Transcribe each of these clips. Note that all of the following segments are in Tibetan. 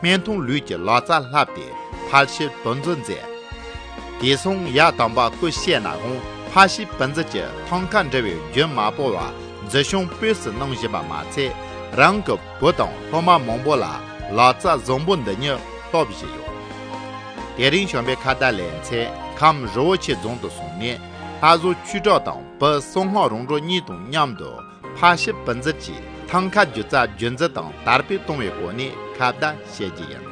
སྨན་ཐུང་ལུས་ཀྱི་ལོ་ཙཱ་ལྷ་བདེ་ཕ་ཤི་བོན་རྫུ་མཛད། དེ་སོང་ཡ་དམ་པ་སྐུ་གཤེགས་ན་གོང་ཕ་ཤི་བོན་རྫུ་གྱི་ཐང་ཀ་འདྲ་བའི་རྒྱུན་མ་བོར་བར་རྫུ་གཤོང་སྤོས་སུ་གནང་བཞིན་པ་མ་ཚད་རང་གི་བུ་དང་སློབ་མ་མང་པོ་ལ་ལོ་ཙཱ་བཟང་པོ་འདི་ཉིད་སློབ་བཞིན་ཡོད། དེ་རིང་གཞོན་པའི་ཁ་བརྡ་ལས་མཚན་ཁམས་རི་བོ་ཆེ་རྫོང་དུ་སོང་ནས་ལྷ་བཟོ་ཁྱུ་དྲག་དང་བུ་བསོད་སྔགས་རོང་འབྲོག་གཉིས་དང་མཉམ་དུ་ཕ་ཞབས་བུ་འཛིན་གྱིས་ཐང་ག་སྒྱུ་རྩལ་རྒྱུན་འཛིན་དང་དར་སྤེལ་གཏོང་བའི་སྒོ་ནས་ཁ་བརྡ་བྱེད་རྒྱུ་ཡིན།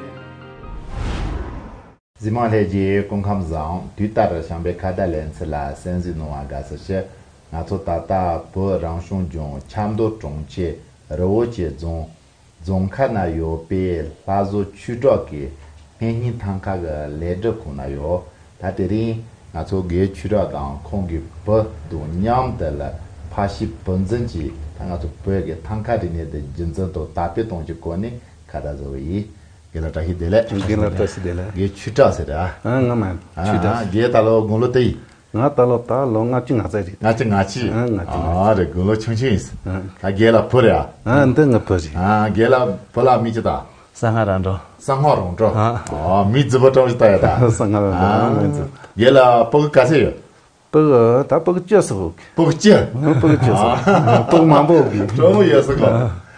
འཛིན་དམངས་ལྷན་རྒྱས་སྐུ་ཁམས་བཟང་དུས་ལྟར་བྱམས་པའི་ཁ་བརྡ་ལེན་ཚུལ་ལ་གསན་གཟིགས་གནང་བ་དགའ་བསུ་ཞུ། ང་ཚོ་ད་ལྟ་བོད་རང་སྐྱོང་ལྗོངས་ཆབ་མདོ་གྲོང་ཁྱེར་རི་བོ་ཆེ་རྫོང་རྫོང་ཁག་ན་ཡོད་པའི་ལྷ་བཟོ་ཆུས་གྲོགས་ཀྱི་སྨན་སྙིང་ཐང་ཁག་གི་ལས་སྒྲུབ་ཁང་ན་ཡོད། ད་དེ་རིང་ང་ཚོ་སྒོས་ཆུས་གྲོགས་དང་ཁོང་གི་བུ་དང་མཉམ་དུ་ལ་ཕ་ཤི་བུ་འཛིན་གྱིས་ད་ང་ཚོ་བོད་ཀྱི་ཐང་ཁ་རིག་གནས་དེ་རྒྱུན་འཛིན་དང་དར་སྤེལ་གཏོང་རྒྱུའི་སྐོར་ནས་ཁ་བརྡ་བཟོ་བ་ཡིན། དགེ་ལ་བཀྲ་ཤིས་བདེ་ལེགས། དགེ་ལ་བཀྲ་ཤིས་བདེ་ལེགས། དགེ་ཆུས་གྲགས་ཟེར། ཨ་ང་མ་ཆུས་གྲགས། དགེ་ད་ལོ་དགུང་ལོ་དེ་ཡིན། ང་ད་ལོ་ད་ལོ་ལྔ་བཅུ་ང་བརྩེགས་རེད། ལྔ་བཅུ་ང་བཅུ། ཨ་ང་བཅུ་ང་བཅུ། རེད་དགུང་ལོ་ཆུང་ཆུང་ཡིན། ཨ་རྒས་ལ་བུ་རེད་ཨ། ཨ་འདི་ངའི་བུ་རེད། ཨ་རྒས་ལ་བུ་ལ་མི་ཅི་ད། སང་ང་རང་འགྲོ། སང་ང་རང་འགྲོ། ཨ་མི་རྫི་བོ་ཀྲང་བཞི་ད་ཡོད་ད། སང་ང་རང་འགྲོ་ཨ་མི་རྫི། རྒས་ལ་སྤུ་གུ་ག་ཚད་ཡོད། སྤུ་གུ་ད་སྤུ་གུ་བཅུ་སོགས། སྤུ་གུ་བཅུ། སྤུ་གུ་བཅུ་སོགས་སྤུ་གུ་མང་པོ། དྲོ་མོ་ཡོད་སོགས།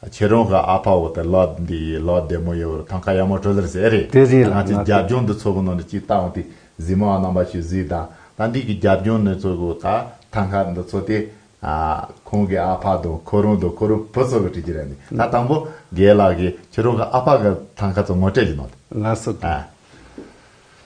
ཁྱེད་རང་གི་ཨ་ཕ་འོ་དེ་ལོ་འདི་ཡིས་ལོ་བདེ་མོ་ཡོད་བར་ཐང་ཁ་ཡག་མོ་བྲོ་ཟེར་ཟེར་རེད་ད་ང་ཚོའི་རྒྱབ་ལྗོངས་འདི་ཚོ་གི་ནང་ནས་གཅིག་ལྟ་འོང་དུས་གཟིགས་མོ་རྣམ་པ་ཞིག་གཟིགས་དང་ད་འདི་གི་རྒྱབ་ལྗོངས་ནས་ཚོ་གི་ད་ཐང་ཁ་འདི་ཚོ་དེ་ཁོང་གི་ཨ་ཕ་དང་ཁོ་རང་དང་ཁོ་རང་བུ་ཚོ་གི་བྲིས་ཀྱི་རེད་ད་དང་པོ་རྒས་ལགས་ཀྱིས་ཁྱེད་རང་གི་ཨ་ཕ་གི་ཐང་ཁ་ཚོ་ངོ་སྤྲད་ཀྱི་འདུག་ང་སུ་དང།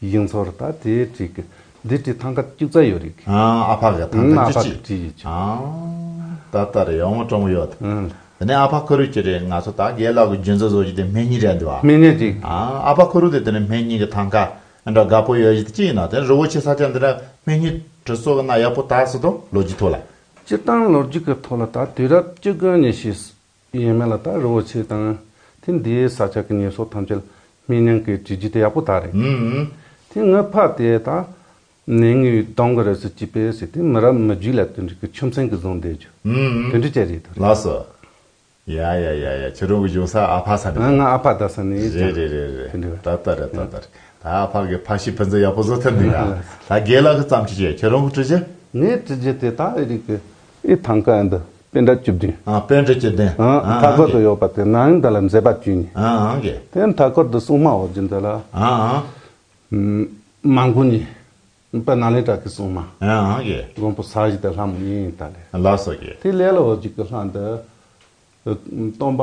ཡིག་མཚོར་ད་དེ་བྲིས། འདི་བྲིས་ཐང་ཀ་སྐྱུག་རྩ་ཡོད་རིགས། ཨ་ཕ་གི་ཐང་ཀ་རྒྱུ་ཅི། ད་ལྟ་རེད་ཡོང་སྤྲོ་མོ་ཡོད། དེ་ནས་ཨ་ཕ་ཁོ་རུས་ཀྱི་རེད་ང་ཚོ་ད་རྒས་ལག་གི་རྒྱུན་ཚོ་བཟོ་རྒྱུ་དེ་སྨན་གཉིས་རེད་འདུག་ཨ། སྨན་གཉིས་རིགས། ཨ་ཕ་ཁོ་རུས་དེ་དེ་ནས་སྨན་གཉིས་ཀྱི་ཐང་ཀ་འདྲ་དགའ་པོ་ཡོད་རྒྱུ་དེ་ཅི་ཡིན་ནོ་དེ་ནས་རི་བོ་ཆེ་ས་ཆ་འདི་འདྲ་སྨན་གཉིས་བྲིས་བཟོ་གི་ན་ཡག་པོ་ད་བཟོ་དང་ལོ་རྒྱུས་ཐོག་ལ། སྤྱིར་བཏང་ལོ་རྒྱུས་ཀྱི་ཐོག་ལ་ད་དུས་རབས་བཅུ་དགུ་ནས་ཤི། དེ་ཡིན་མིན་ལ་ད་རི་བོ་ཆེ་དང། ཐེངས་འདིའི་ས་ཆ་གི་ཉེས་གསོག་ཐམས་ཅད་སྨིན་ཉང་གི་གྲི་རྒྱུད་དེ་ཡག་པོ་དག་རེད། ཐེངས་ངོས་ཕ་དེ་ད་ནས་ངའི་གདོང་གི་རི་སུ་སྐྱིད་པས་ཟེར་ཏེ་མི་རབས་མི་རྒྱུད་ལ་དོན་འགྲུས་ཀྱི་ཆུ་མཚན་གྱིས་བཟུང་བསྡད་རྒྱུ། དོན་འགྲུས་ཀྱི་རེད་དོ་རེད། ལགས་སོ། ཡ་ཡ་ཡ་ཡ་ཁྱེད་རང་གི་གཞུང་ས་ཨ་ཕ་ས་ནས་རེད། ང་ཨ་ཕ་རྡ་ས་ནས་རེད་རེད་རེད་རེད་དོན་འགྲུས། ད་ལྟ་རེད་ད་ལྟ་རེད། ད་ཨ་ཕ་གི་ཕ་ཤི་ཕུན་ཚོགས་ཡག་པོ་བཟོ་ཐུབ་ནས་ཡ། ལགས་སོ། ད་དགེ་ལགས་ཀྱི་བརྩམས་ཆོས་ཀྱིས་ཁྱེད་རང་གི་གྲི་རྒྱུད། ངའི་གྲི་རྒྱུད་དེ་ད་རིགས་ཀྱི། ཨི་ཐང་ཀ་འདི་དཔེ་འདྲ་བཅུ་བདུན། དཔེ་འདྲ་བཅུ་བདུན། མཐའ་འཁོར་དུ་ཡོད་པ་དེ་ནའང་འདི་ལ་མཛེས་པ་བཅུ་གཉིས། དེའི་མཐའ་འཁོར་དུ་སྲུང་མ་འོག་འཇུག་འདི་ལ། མ་མགོན་གཉིས། དཔལ་ནཱ་ལེནྡྲ་གྱི་སྲུང་མ། མགོན་པོ་ས་གཞི་དེ་ལྷ་མོ་གཉིས་དང་ལས། དེའི་ལས་ལ་འོག་འཇུག་གི་ལྷ་འདི། སྟོང་པ།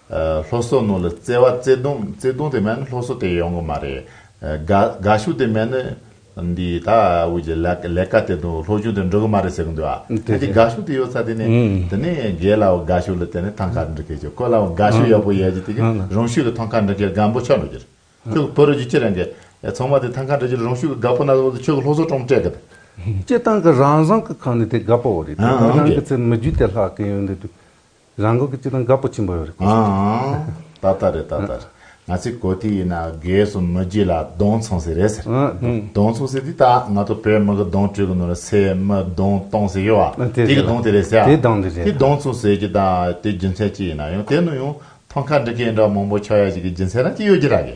ལྷོ་སོ་ནོ་ལ་བརྩེ་བ་བརྩེ་དུང་བརྩེ་དུང་དེ་མེད་ན་ལྷོ་སོ་དེ་ཡོང་གི་མ་རེད། དགའ་དགའ་ཤུགས་དེ་མེད་ན་འདིའི་ད་དབུས་ཀྱི་ལས་ཀ་ལས་ཀ་དེ་དང་ལྷོ་གཞུང་དེ་འགྲོ་གི་མ་རེད་ཟེར་གི་འདུག་ཨ། དེ་དེ་དགའ་ཤུགས་དེ་ཡོད་ས་དེ་ནས་དེ་ནས་རྒས་ལའོ་དགའ་ཤུགས་ལ་དེ་ནས་ཐང་ཁ་འབྲི་ཁེ་ཆོག་ཁོ་ལའོ་དགའ་ཤུགས་ཡག་པོ་ཡོད་ཀྱི་དེ་གི་རང་ཤུགས་ཀྱི་ཐང་ཁ་འབྲི་ཁེ་དགའ་འབོ་ཆོག་འགྲོ་གྱི་རེད། ཁྱོད་ཀྱི་བོད་རིགས་ཀྱི་ཁྱི་རང་གི་ཚང་མ་དེ་ཐང་ཁ་འབྲི་རྒྱུར་རང་ཤུགས་ཀྱི་དགའ་པོ་ན་ཟོག་དེ་ཁྱོད་ཀྱི་ལྷོ་སོ་ཀྲོང་སྤྲད་གི་དེ། སྤྱི་བཏང་གི་རང་བཟང་གི་ཁང་ནས་དེ་དགའ་པོ་བོ་རེད་དེ། རང་གི་ཚེ་མི་རྒྱུད་དེ་ལྷག་གི་ཡོད་འདི་དུས་རང་འགུལ་གྱི་བརྩེ་དུང་དགའ་པོ་ཆེན་པོ་ཡོད་རེད་ཨང་ཨང། ད་ལྟ་རེད་ད་ལྟ་རེད། ང་ཚོའི་གོ་ཐོས་ཡིན་ན་རྒས་སོང་མི་རྒྱུད་ལ་གདོང་མཚུངས་ཟེར་རེད་ཟེར། གདོང་མཚུངས་ཟེར་དུས་ད་ང་ཚོ་བོད་མི་གི་གདོང་དྲུད་གི་ནོར་རེད་སའི་མི་གདོང་སྟོང་ཟེར་ཡོད་ཨ། དེ་གི་གདོང་དེ་རེད་ཟེར་ཨ། དེ་གདོང་དེ་རེད་ཨ། དེ་གདོང་མཚུངས་ཟེར་གྱི་ད་དེ་རྒྱུ་མཚན་ཅི་ཡིན་ན་ཡང་དེ་ནུ་ཡང་ཐོང་ཁ་འདྲི་མཁན་འདྲ་མང་པོ་ཆགས་ཡ་ཞིག་གི་རྒྱུ་མཚན་རང་ཅི་ཡོད་ཀྱི་ར་གི།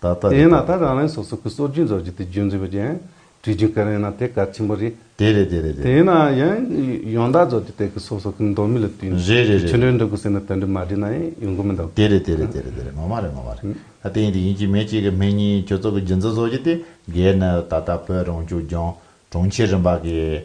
ད་ལྟ་རེད། ཡིན་ན་ད་རང་རེ་སོ་སོ་གི་སྲོལ་རྒྱུན་རྫོགས་རྒྱུ་དེ་རྒྱུན་འཛིན་པ་ཅན་བྲིས་རྒྱུ་ག་རེ་ཡིན་ན་དེ་གལ་ཆེན་པོ་རེད། དེ་རེད་དེ་རེད་དེ། དེ་ཡིན་ན་ཡང་ཡོངས་དག་རྫོགས་རྒྱུ་དེ་གི་སོ་སོ་གི་མདོ་མི་ལ་བསྟུན་ནས་རེད་རེད་རེད་ཕྱི་རེད། འགྲོའི་འགྲོ་དགོས་ཟེར་ན་དོན་འགྲེལ་མ་བྲིས་ན་ཡང་ཡོང་གི་མི་འདུག། དེ་རེད་དེ་རེད་དེ་རེད་དེ་རེད་ངོ་མ་རེད་ངོ་མ་རེད། ད་དེ་ཡིན་དེ་ཡིན་གཅིག་མེད་གཅིག་གི་མེད་གཉིས་ཁྱོད་ཚོ་གི་རྒྱུན་འཛིན་རྫོགས་རྒྱུ་དེ་འགལ་ནི་ད་ལྟ་བོད་རང་སྐྱོང་ལྗོངས་གྲོང་ཁྱེར་རིམ་པ་གི།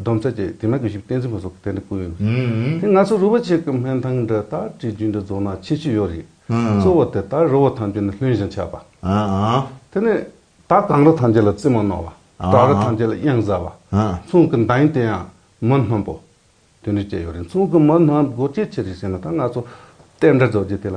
སྡོམ་རྩ་བཅས་དེ་མིན་གྱི་ཞུ་བསྟན་ཟིན་པ་སོགས་གཏན་དུ་བཀོད་ཡོད། དེ་ང་ཚོ་རུ་བ་ཅིག་གི་སྨན་ཐང་འདི་ལྟར་བྲིས་རྒྱུ་འདི་རྫོགས་ན་ཆེས་ཆེར་ཡོད་རེད། གཙོ་བོ་དེ་ལྟར་རུ་བ་ཐམས་ཅད་ནི་ལྷུན་བཞིན་ཆགས་པ། དེ་ནས་ད་གང་རུ་ཐམས་ཅད་ལ་རྩིབ་མོ་སྣོག་བ། བྲག་རུ་ཐམས་ཅད་ལ་གཡང་གཟར་བ། མཚུངས་ཀྱི་མདའ་ཡིན་དེ་ཡང་མི་སྣུམ་པོ། དེ་འདྲས་བཅས་ཡོད་རེད་མཚུངས་ཀྱི་མི་སྣུམ་སྒོ་ཅི་ཕྱིར་རེད་ཟེར་ན་ད་ང་ཚོ་བསྟན་དགྲ་རྫོགས་རྗེས་དེ་ལ་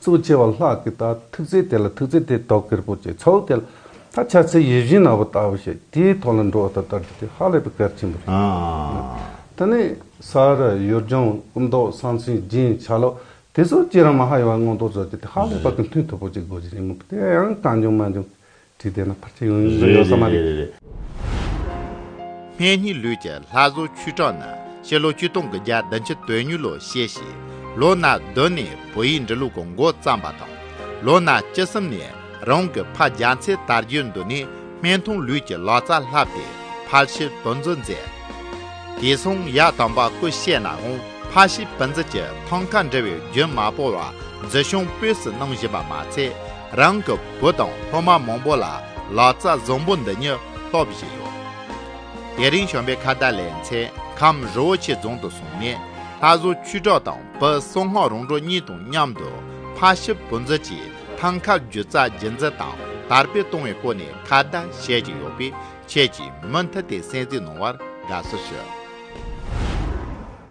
གཙོ་ཆེ་བ་ལྷག་གི་དག་ཐུགས་རྗེ་དེ་ལ་ཐུགས་རྗེ་དེ་དོག་གེར་པོ་བྱས་ཚོགས་དེ་ལ་ད་ཆ་ཚེ་ཡི་བཞིན་ནོ་བ་ལྟ་བུ་བྱས་དེའི་ཐོག་ལ་འགྲོ་བ་དང་དར་རྒྱས་དེ་ཧ་ལས་པའི་གལ་ཆེན་པོ་རེད། ད་ནི་ས་ར་ཡུལ་ལྗོངས་སྐུ་མདོག་གསང་ཆེན་སྦྱིན་བྱ་ལོ་དེ་ཚོ་སྐྱེས་རབས་མ་ཧཱ་ཡོ་ག་མངོན་རྟོགས་རྫོགས་རྒྱུ་དེ་ཧ་ལས་པ་གི་མཐུ་ཐུབ་པོ་ཅིག་དགོས་ཀྱི་ཡིན་མོད་དེ་ཡང་གང་འབྱུང་མ་འབྱུང་དུས་དེ་ན་ཕར་ཆེར་ཡོང་ཡོད་ས་མ་རེད། སྨན་གཉིས་ལུས་ཀྱི་ལྷ་བཟོ་ཆུས་བྲག་ན་ཕྱི་ལོ་བཅུ་སྟོང་གི་རྒྱ་བདུན་ཆུ་སྟོད་ཉུལ་ལོ་ཞེས་བྱས། ལོ་ན་བདུན་ནས་བོད་ཡིག་འབྲི་ལུགས་ཀྱི་མགོ་བརྩམས་པ་དང། ལོ་ན་བཅུ་གསུམ་ནས་རང་གི་ཕ་རྒྱ་མཚེས་དར་རྒྱུད་འདུ་ནས་སྨན་ཐུང་ལུས་ཀྱི་ལག་རྩལ་བསླབས་ཏེ་ཕར་ཕྱིར་བུ་འཛིན་མཛད། དེ་མཚུངས་ཡག་དམ་པ་སྐུ་གཤེགས་ནའང་ཕར་ཕྱིར་བུ་འཛིན་གྱི་ཐང་ཀ་འབྲི་བའི་རྒྱུན་མ་སྤོར་བར་འཛིན་སྐྱོང་དཔོན་སུ་གནང་བཞིན་པ་མ་ཚད། རང་གི་བུ་དང་སློབ་མ་མང་པོ་ལ་ལག་རྩལ་བཟང་པོ་འདི་ཉིད་སློབ་བཞིན་ཡོད། དེ་རིང་གཞོན་པའི་ཁ་བརྡ་ལས་མཚན་ཁམས་རི་བོ་ཆེ་རྫོང་དུ་སོང་ནས་ལྷ་བཟོ་ཆོས་གྲགས་དང་བུ་བསོད་སྔགས་རོང་འབྲོག་གཉིས་དང་མཉམ་དུ་ཕ་ཤི་བུ་འཛིན་གྱི་ཐང་ཁ་བརྒྱུད་རྩ་རྒྱུད་འཛིན་དང་དར་སྤེལ་གཏོང་བའི་སྐོར་ནས་ཁ་བརྡ་བྱེད་ཀྱི་ཡོད་པས་ཁྱེད་ཀྱིས་མུ་མཐུད་དེ་གསན་གཟིགས་གནང་བར་དགའ་བསུ་ཞུ།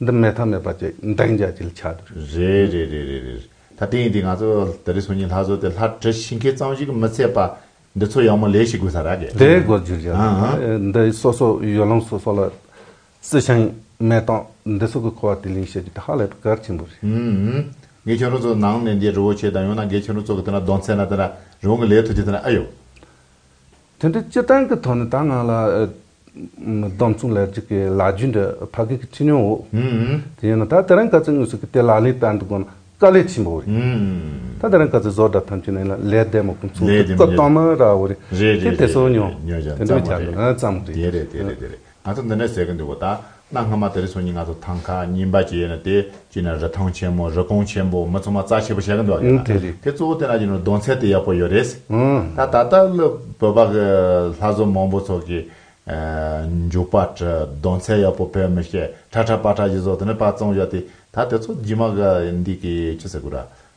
འདི་མེད་ཐབས་མེད་པ་ཅིག་འདྲེན་རྒྱ་བྱེད་ལ་ཆགས་འདུག། རེད་རེད་རེད་རེད་རེད་ད་ལྟ་ཡིན་དུས་ང་ཚོ་ད་རེས་སོ་གཉིས་ལྷ་བཟོ་དེ་ལྷ་བྲི་ཤིང་མཁས་གཙང་ཞིག་མི་ཚད་པ་འདི་ཚོ་ཡག་མོ་ལས་ཤིག་དགོས་ས་ར་གས། དེའི་སྒོ་བརྒྱུད་ཀྱི་འདི་སོ་སོ་ཡུལ་ལམ་སོ་སོ་ལ་རྩི་ཤིང་མེ་ཏོག་འདི་ཚོ་གི་ཁོ་བ་དུས་ལེན་བྱེད་རྒྱུ་དེ་ཧ་ལས་པའི་གལ་ཆེན་པོ་རེད། འགས་ཁྱོད་རང་ཚོ་ནང་ནས་འདི་རི་བོ་ཆེ་དང་ཡང་ན་འགས་ཁྱོད་རང་ཚོ་གི་དེ་ན་གདོང་ཚད་ན་དེ་ན་རི་བོང་གི་ལས་ཐུགས་རྗེ་དེ་ན་ཨ་ཡོ། དོན་དུ་སྤྱིར་བཏང་གི་ཐོག་ནས་ད་ང་ལ་སྡོམ་གསུང་ལེགས་བྱས་ཀྱི་ལག་བརྒྱུད་འདི་ཕ་གིའི་ཁྲིད་ཉོན་འོག་དེ་ཡིན་ན་ད་དེ་རང་ག་ཚོད་དངོས་སུ་གི་དེ་ལག་ལེན་བསྟར་འདི་དགོས་ན་དཀའ་ལས་ཆེན་པོ་རེད། ད་དེ་རང་ག་ཚོད་བཟོ་གྲྭ་ཐམས་ཅད་ནས་ལ་ལས་བསྡད་མ་ཁུངས་ཚུགས་ལྟ་བསྟོད་མ་ར་བོ་རེད། དེ་དེ་སོ་ཉོ་དེ་འདྲ་བྱ་དགོས་ཨ་ཙམ་རེད། ང་ཚོ་འདི་འདྲ་ཟེར་གི་འདུག་གོ་ད། གནའ་སྔ་མ་དེ་རི་སོ་གཉིས་ང་ཚོ་ཐང་ཁ་གཉིས་འབའ་ཅེས་ན་དེ་གཅིག་ན་རི་ཐང་ཆེན་མོ་རི་སྐོང་ཆེན་པོ་མི་ཚོ་མ་རྩ་ཆེ་པོ་བྱེད་གི་འདུག་ག་དེ་རེད། དེ་གཙོ་བོ་དེ་ན་གྱི་ནོར་གདོང་ཚད་དེ་ཡག་པོ་ཡོད་རེད། ད་ད་ལྟ་བློས་བོད་པ་གི་ལྷ་བཟོ་མང་པོ་ཚོ་གི། མཇུག་པ་གྲི་གདོང་ཚད་ཡག་པོ་ཕེབས་མི་ཤེས་ཁྲ་ཁྲ་པ་ཁྲ་གཞི་བཟོ་དེ་ནས་པ་བཙོང་བཞག་དེ་ད་དེ་ཚོ་རྗི་མ་ག་འདི་གི་ཅི་ཟེར་དགོས་ར།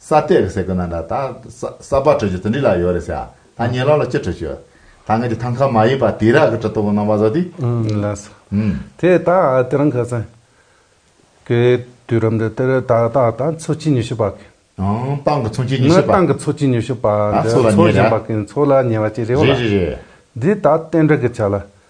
ས་སྟེ་རེད་ཟེར་དགོས་ན་འདྲ། ད་ས་སྦག་བྲོས་བྱོས་དེ་འདྲི་ལ་ཡོད་རེད་ཟེར། ད་ཉེ་ལོག་ལ་ཅི་བྲོས་བྱོས། ད་ངས་ཀྱི་ཐང་ཁ་མ་ཡིན་པ་དེ་རག་གི་གྲི་ཏོག་གི་ནང་པ་བཟོ་དུས། ལས་ས། དེ་ད་དེ་རང་ག་ས། གི་དུས་རབས་འདི་དེར་ད་ད་ད་འཚོ་གཅིག་ཉི་ཤུ་པ་གི། ཨང། ཏང་གི་འཚོ་གཅིག་ཉི་ཤུ་པ། ནི་ཏང་གི་འཚོ་གཅིག་ཉི་ཤུ་པ་འདི་འཚོ་བཞིན་པ་གི་འཚོ་ལ་ཉེ་བ་ཅིག་རེད་བ་ལ། རེད་རེད་རེད། འདི་ད་བསྟན་འགྲོ་གི་ཆ་ལ།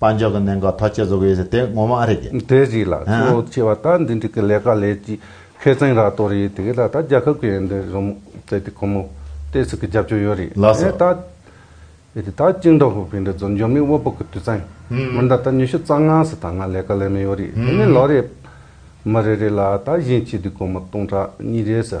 དཔལ་འབྱོར་གྱི་གནད་འགག་ཐག་གཅོད་བཟོ་གི་ཡོད་ཟེར་དེ་ངོ་མ་ཨ་རེ་གི། དེ་ཞིག་ལ་ཁྱོད་བྱས་བ་ད་འདི་འདྲི་གི་ལས་ཀ་ལས་ཀྱི་མཁས་བཙན་ར་ཏོ་རེད་དེ་གི་ད་ད་རྒྱལ་ཁབ་གི་འདི་རུ་མོ་བཙལ་དེ་ཁོ་མོ་ཏེ་ཟིག་གི་རྒྱབ་སྐྱོར་ཡོད་རེད་ལགས་སོ། ཨེ་ད། ཨེ་ད་ཅིང་འདྲ་ཧུ་བི་འདྲ་ཛོ་འཇོན་མི་དབོ་པོ་གི་དུས་ཙན་མི་འདྲ་ད་ཉི་ཤུ་རྩ་ལྔ་སི་ད་ང་ལས་ཀ་ལས་མི་ཡོད་རེད་དེ་ནི་ལོ་རེ། མི་རེ་རེ་ལ་ད་བཞིན་གྱི་དུས་ཁོ་མོ་སྟོང་ཕྲག་གཉིས་རེ་སི།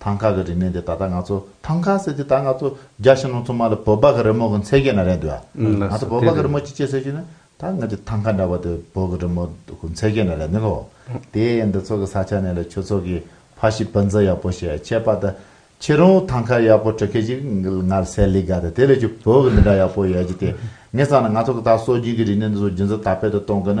ཐང་ཀ་གི་རིག་གནས་འདི་ད་ལྟ་ང་ཚོ་ཐང་ཀ་ཟེར་དུས་ད་ང་ཚོ་རྒྱ་ཞིང་ནང་ཚོ་མ་ལ་བོད་པ་གི་རི་མོ་གི་མཚན་སྐད་ན་རེད་འདུག་ཨ། ང་ཚོ་བོད་པ་གི་རི་མོ་ཅི་བྱེད་ཟེར་ཞུས་ན་ད་ང་ཅི་ཐང་ཀ་འདྲ་བ་དེ་བོད་གི་རི་མོ་གི་མཚན་སྐད་ན་རེད་འདུག་ལོ། དེ་ཡན་འདི་ཚོ་གི་ས་ཆ་ནས་ལ་ཁྱོད་ཚོ་གི་ཕ་ཤི་བུ་འཛིན་ཡག་པོ་བྱས་ཁྱེད་པ་ད་ཁྱེད་རང་ཐང་ཀ་ཡག་པོ་བྲི་མཁན་ཅིག་ང་ལ་སེ་ལི་ག་ད་དེ་ལས་ཁྱོད་བོད་གི་འདི་འདྲ་ཡག་པོ་ཡོད་ཀྱི་དེ་ངས་བསམ་ན་ང་ཚོ་གི་ད་སྲོལ་རྒྱུན་གི་རིག་གནས་འདི་ཚོ་རྒྱུན་འཛིན་དར་སྤེལ་དུ་གཏོང་དགོས་ན